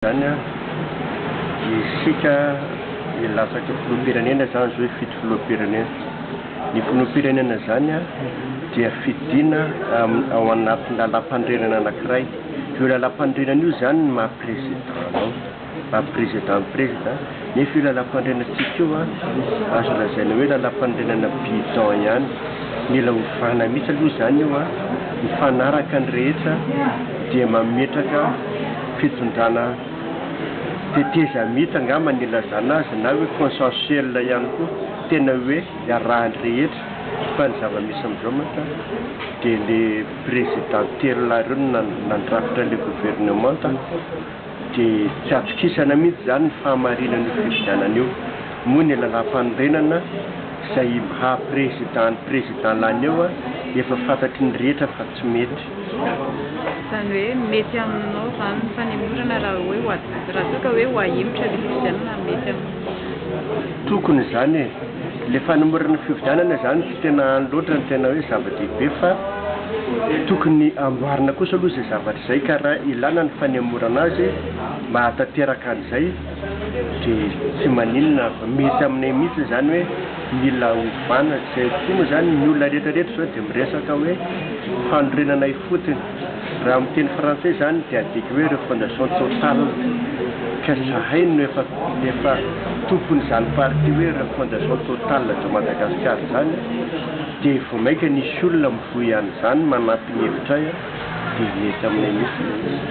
Izany an! Isika milatsaka filoham-pirenena izany izao hifidy filoham-pirenena. Ny filoham-pirenena izany an! Dia fidiana ao anatin'ny lalàmpanorenana anankiray. Io lalàmpanorenana io izany no maha-president anao. Maha-president ny president. Nefa io lalam-panorenantsika io an, azo lazaina hoe lalam-panorenana bidon ihany. Mila ovana mihitsy aloha izany io an, mifanaraka ny rehetra dia mametraka fitondrana tetezamita angamba ny ilazana azy na hoe consensuel ihany koa, tena hoe iarahan'ny rehetra fa ny zava-misy amin'izao mantsy dia le président telo lahy ireo no nandrafitra ilay gouvernementa. dia tsy atokisana mihitsy izany ny fahamarinan'io fifidianana io, moa ny lalàmpanorenana izay mha président ny président lany eo efa fantatry ny rehetra fa tsy mety. Izany hoe mety aminao izany ny fanemorana raha hoe ho ady, raha toa ka hoe ho ahemotra ilay fifidianana mety aminao izany? Tokony izany e! Ilay fanemorana fifidianana izany. Tena any loatra ny tena hoe zava-dehibe fa tokony amboarina kosa aloha izay zavatra izay ka raha ilana ny fanemorana azy mahatanteraka an'izay dia tsy maninona fa mety aminay mihitsy izany hoe mila ovana izay koa moa izany ny olona rehetra rehetra izao dia miresaka hoe fanorenana ifotony Raha amin'ny teny frantsay izany dia adika hoe refondation totale ka izahay no efa efa tompon'izany parti hoe refondation totale de Madagascar izany dia vao mainka nisy olona mivoy an'izany manampy ny hevitray dia mety aminay mihitsy ilay izy.